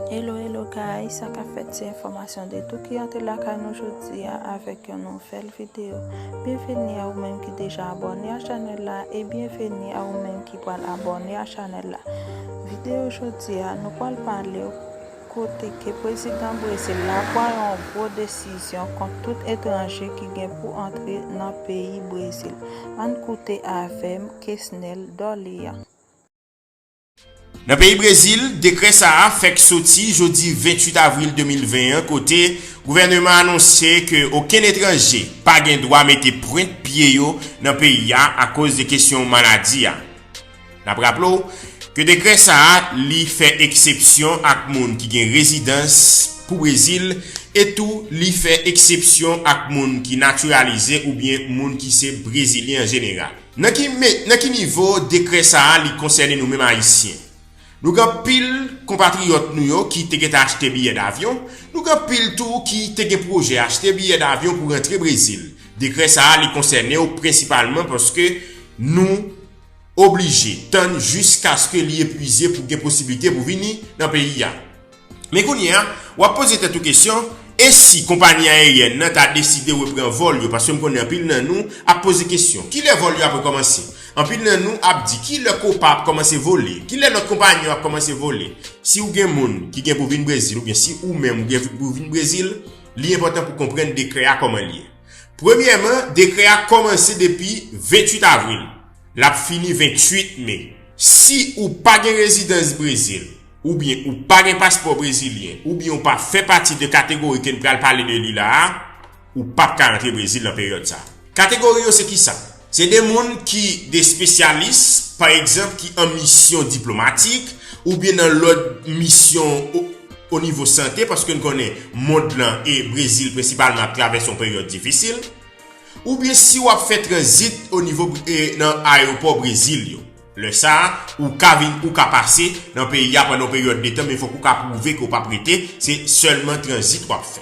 Hello hello guys, sa kap fèt se enfòmasyon de tou ki antre lakay nou jodia avèk yon nouvèl video. Byenveni a ou menm ki deja abòne a chanèl la e byenveni a ou menm ki pral abòne a chanèl la. Video jodia nou pral palew kote ke prezidan Brezil la pran yon gwo desizyon kont tout etranje ki gen pou antre nan peyi Brezil. Ann koute avèm Kesnel Dorlean. Nan peyi Brezil, dekrè sa a fèk soti jodi 28 avril 2020 an kote gouvèneman an anonse ke okenn etranje pa gen dwa mete pwent pye yo nan peyi a akoz de kesyon maladi a. N ap raple w ke dekrè sa a li fè eksepsyon ak moun ki gen rezidans pou Brezil e tou li fè eksepsyon ak moun ki natiralize oubyen moun ki se Brezilyen an jeneral. Nan ki nivo dekrè sa a li konsène nou menm Ayisyen? Nou gen anpil konpatriyòt nou yo ki te gentan achte biyè davyon, nou gen anpil tou ki te gen pwojè achte biyè davyon pou rantre Brezil. Dekrè sa a li konsène w prensipalman paske nou oblije tann jiskaske li epwize pou gen posiblite pou vini nan peyi a. Men kounye a, w ap poze tèt ou kesyon, e si konpayi ayeryèn nan ta deside repran vòl yo? Paske m konnen anpil nan nou ap poze kesyon, ki lè vòl yo ap rekòmanse? Anpil nan nou ap di, ki lè Copa ap kòmanse vole? Ki lè lòt konpayi yo ap kòmanse vole? Si ou gen moun ki gen pou vin Brezil oubyen si ou menm ou gen pou vin Brezil, li enpòtan pou konprann dekrè a kòman li ye. Premyèman, dekrè a kòmanse depi 28 avril, l ap fini 28 me. Si ou pa gen rezidans Brezil, oubyen ou pa gen paspò brezilyen, oubyen ou pa fè pati de kategori ke n pral pale de li la a, ou pap ka rantre Brezil nan peryòd sa a. Kategori yo se kisa? Se de moun ki de spesyalis, pa egzanp ki an misyon diplomatik, oubyen nan lòt misyon o nivo sante, paske n konnen mond lan e Brezil prensipalman ap travèse yon peryòd difisil, oubyen si w ap fè tranzit o nivo nan ayewopò Brezil yo. Lè sa a, ou ka vin ou ka pase nan peyi a pandan yon peryòd de tan men fòk ou ka pwouve ke ou pap rete, se sèlman tranzit wap fè.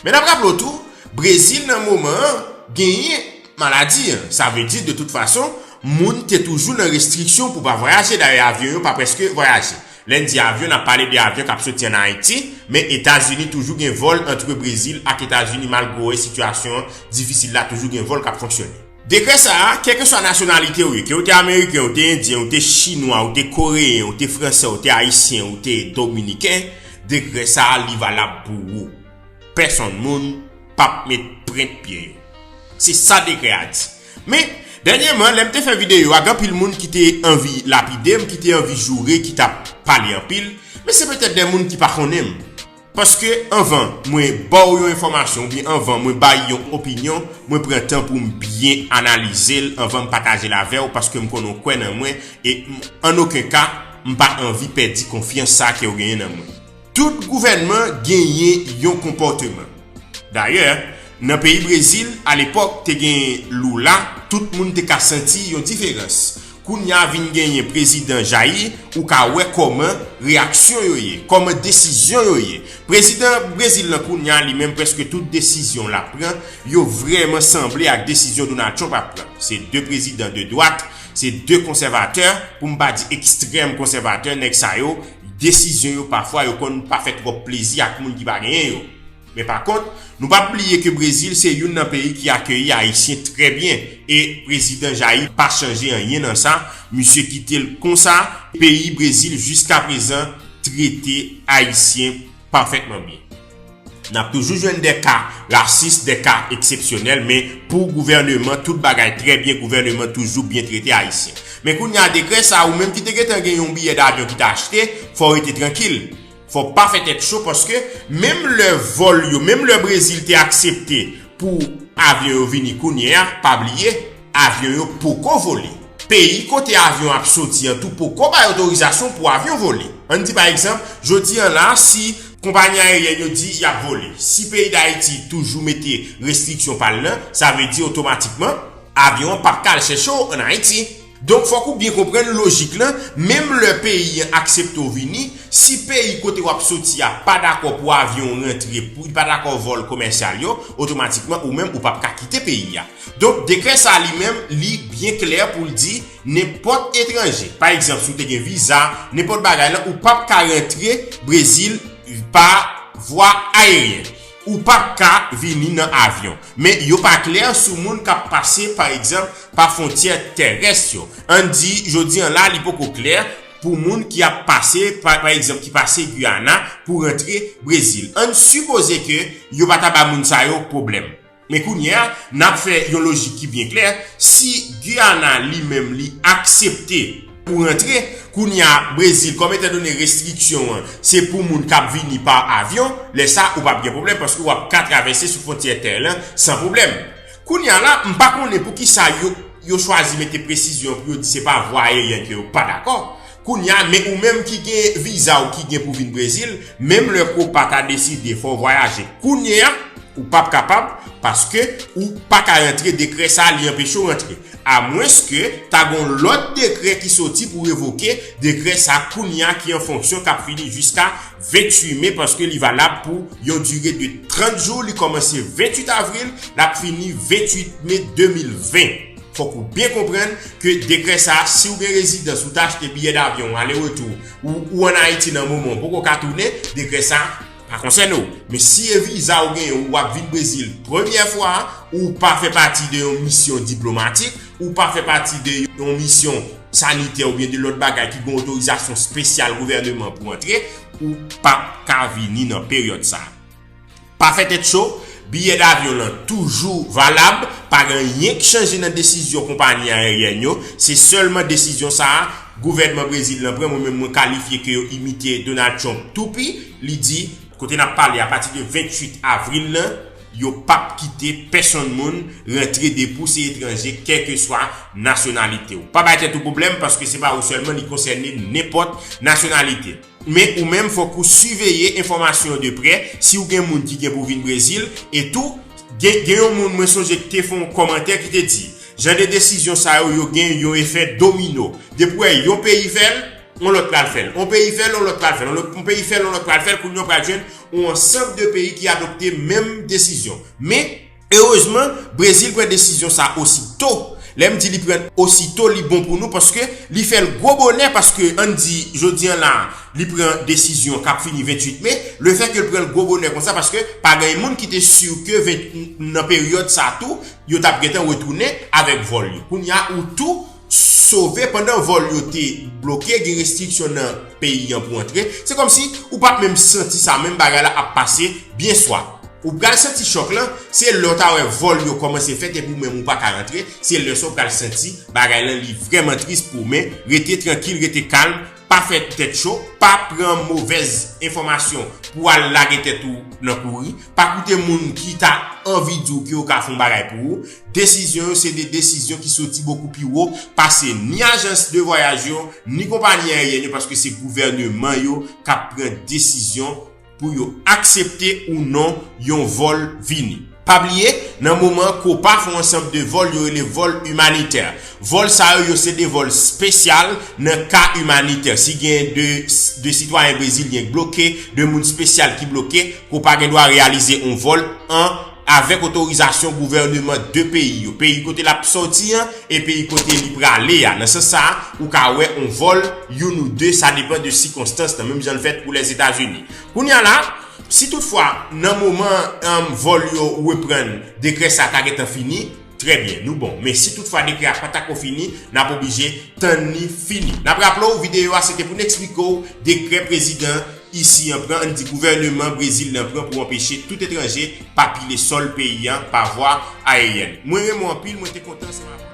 Men nap raple w tou, Brezil nan moman an genyen maladi an, sa vle di de tout fason moun te toujou nan restriksyon pou pa vwayaje dayè avyon yo pa prèske vwayaje. Lè n di avyon nap pale de avyon kap soti an Ayiti, men Etazini toujou gen vòl antre Brezil ak Etazini malgre w wè sitiyasyon an difisil la toujou gen vòl kap fonksyone. Dekrè sa a, kèlkeswa nasyonalite ou ye, ke ou te Ameriken, ou te Endyen, ou te Chinwa, ou te Koreyen, ou te Fransè, ou te Ayisyen, ou te Dominiken, dekrè sa a li valab pou ou. Pèsonn moun p ap met prent pye yo. Se sa dekrè a di. Men, dènyeman, lè m te fè videyo a, gen anpil moun ki te anvi lapide m, ki te anvi joure, ki t ap pale anpil, men se petèt de moun ki pa konnen m. Paske anvan mwen baw yon enfòmasyon oubyen anvan mwen bay yon opinyon, mwen pran tan poum byen analizel anvanm patajel avèw paskem konnen w kwè nan mwen e m an oken ka m pa anvi pèdi konfyans sa kew genyen nan mwen. Tout gouvènman genyen yon konpòteman. Dayè, nan peyi Brezil, alepòk te gen Lula, tout moun te ka santi yon diferans. Kounya vin genyen prezidan jayi ou ka wè kòman reyaksyon yo ye, kòman desizyon yo ye. Prezidan Brezil lan kounya li menm prèske tout desizyon lap pran yo vrèman sanble ak desizyon Donald Trump ap pran. Se 2 prezidan de dwat, se 2 konsèvatè, pou m pa di ekstrèm konsèvatè, nèg sa yo desizyon yo pafwa yo konn pa fè twòp plezi ak moun ki pa genyen yo. Men pa kont, nou pap bliye ke Brezil se youn nan peyi ki akeyi Ayisyen trè byen e Prezidan Jair pa chanje anyen nan sa, misye kite l konsa, peyi Brezil jiskaprezan trete Ayisyen pafètman byen. N ap toujou jwenn dè ka rasis, dè ka eksepsyonèl, men pou gouvèneman tout bagay trè byen, gouvèneman toujou byen trete Ayisyen. Men kounye a dekrè sa, ou menm ki te gentan gen yon biyè davyon ki te achte, fò w rete trankil. Fòk pa fè tèt cho paske menm lè vòl yo menm lè Brezil te aksepte pou avyon yo vini kounye a pa bliye avyon yo poko vole peyi kote avyon ap soti an tou poko bay otorizasyon pou avyon vole ann di pa egzanp jodi an la si konpayi ayeryèn yo di y ap vole si peyi dayiti toujou mete restriksyon pa l nan sa vle di otomatikman avyon an pap ka al chèche w ann ayiti. Donk fòk ou byen konprann lojik lan, menm lè peyi an aksepte w vini, si peyi kote wap soti a pa dakò pou avyon w rantre, li pa dakò vòl komèsyal yo, otomatikman ou menm ou pap ka kite peyi a. Donk dekrè sa li menm li byen klè pou l di nenpòt etranje, pa egzanp si w te gen viza, nenpòt bagay lan ou pap ka rantre Brezil pa vwa ayeryen. Ou pa p ka vini nan avyon. Men yo pa klè sou moun k ap pase, pa egzanp, pa fwontyè terès yo. Ann di, jodi an la, li poko klè pou moun ki ap pase, pa egzanp, ki pase Guyana pou rantre Brezil. Ann sipoze ke yo pa ta ba moun sa yo pwoblèm. Men kounye a, n ap fè yon lojik ki byen klè, si Guyana li menm li aksepte, pou rantre, kounye a Brezil kòm etan done restriksyon an se pou moun kap vini pa avyon, lè sa ou pap gen pwoblèm paske wap ka travèse sou fwontyè tè lan san pwoblèm. Kounye a la m pa konnen poukisa yo yo chwazi mete presizyon pou yo di se pa vwa aeryen ke yo pa dakò, kounye a men ou menm ki gen viza ou ki gen pou vin Brezil menm lè copa ta deside fè w vwayaje kounye a ou pap kapab paske ou paka rantre dekrè sa li anpeche w rantre. Amwenske ta gon lòt dekrè ki soti pou revoke dekrè sa kounya ki an fonksyon kap fini jiska 28 me paske li valab pou yon dire de 30 jou li kòmanse 28 avril lap fini 28 me 2020. Fòk ou byen konprann ke dekrè sa si ou gen rezidans ou ta achte biyè davyon ale retou ou ou an Ayiti nan moman ou poko ka tounen dekrè sa Pa konsène w, men si e viza ou genyen ou ap vin Brezil premyè fwa a, ou pa fè pati de yon misyon diplomatik, ou pa fè pati de yon misyon sanitè oubyen de lòt bagay ki gen otorizasyon spesyal gouvèneman pou antre, ou pap ka vini nan peryòd sa. Pa fè tèt cho, biyè davyon lan toujou valab, pa gen anyen k chanje nan desizyon konpayi ayeryèn yo, se sèlman desizyon sa a Gouvènman Brezil lan pran mwen menm mwen kalifye ke yo imite Donald Trump tou pi, li di. Kote nap pale a pati de 28 avril lan yo pap kite pèsonn moun rantre depi w se etranje kèlkeswa nasyonalite w. Pa bay tèt ou pwoblèm paske se pa ou sèlman li konsène nenpòt nasyonalite. Men ou menm fòk ou siveye enfòmasyon yo de prè, si ou gen moun ki gen pou vin Brezil, e tou, gen gen yon moun mwen sonje ki te fè yon kòmantè ki te di, jan de desizyon sa yo, yo gen yon efè domino, depi ou wè yon peyi fè l, yon lòt pral fè l, yon peyi fè l, yon lòt pral fè l, yon peyi fè l, yon lòt pral fè l, kounye a ou pral jwenn yon ansanb de peyi ki adopte menm desizyon. Men. Erezman, Brezil pran desizyon sa osi to. Lè m di li pran osi to li bon pou nou paske li fè l gwo bonè paske ann di jodi an la li pran desizyon k ap fini 28 me. Le fè ke l pran l gwo bonè konsa paske pa gen moun ki te si ke 20 nan peryòd sa tou yo t ap gentan retounen avèk vòl yo. Kounye a ou tou. sove pandan vòl yo te bloke gen restriksyon nan peyi an pou antre se kòmsi ou pap menm santi sa menm bagay la ap pase byen swa ou pral santi chòk lan se lè ou ta wè vòl yo kòmanse fèt epi ou menm ou paka antre se lè sa ou pral santi bagay lan li vrèman tris pou ou men rete trankil rete kalm Pa fè tèt cho, pa pran movèz enfòmasyon pou w al lage tèt ou nan kouri, pa koute moun ki ta anvi di w ke yo ka fon bagay pou ou. Desizyon yo se de desizyon ki soti bokou pi wo pase ni ajans de vwayaj yo, ni konpanyi ayeryèn yo paske se gouvèneman yo k ap pran desizyon. pou yo aksepte ou non yon vòl vini. Pa bliye, nan moman Copa fon ansanb de vòl yo rele vòl imanitè. Vòl sa yo yo se de vòl spesyal nan ka imanitè. Si gen de de sitwayen brezilyen k bloke, de moun spesyal ki bloke, Copa gen dwa reyalize on vòl an. avèk otorizasyon gouvèneman 2 peyi yo, peyi kote l ap sòti an e peyi kote li prale a. Nan sans sa a, ou ka wè on vòl, youn ou de, sa depan de sikonstans nan, menm jan l fèt pou Lèzetazini. Kounye a la, si tout fwa, nan moman vòl yo reprann, dekrè sa ta gentan fini, Trè byen, nou bon. Men si tout fwa dekrè a pa ta ko fini, n ap oblije tann li fini. N ap raple w, videyo a se te pou n eksplike w dekrè prezidan isi an pran, an n di gouvèneman Brezil nan pran pou anpeche tout etranje pa pile sòl peyi an pa vwa aeryèn. Mwen renmen w anpil, mwen te kontan ansanm avè w nan.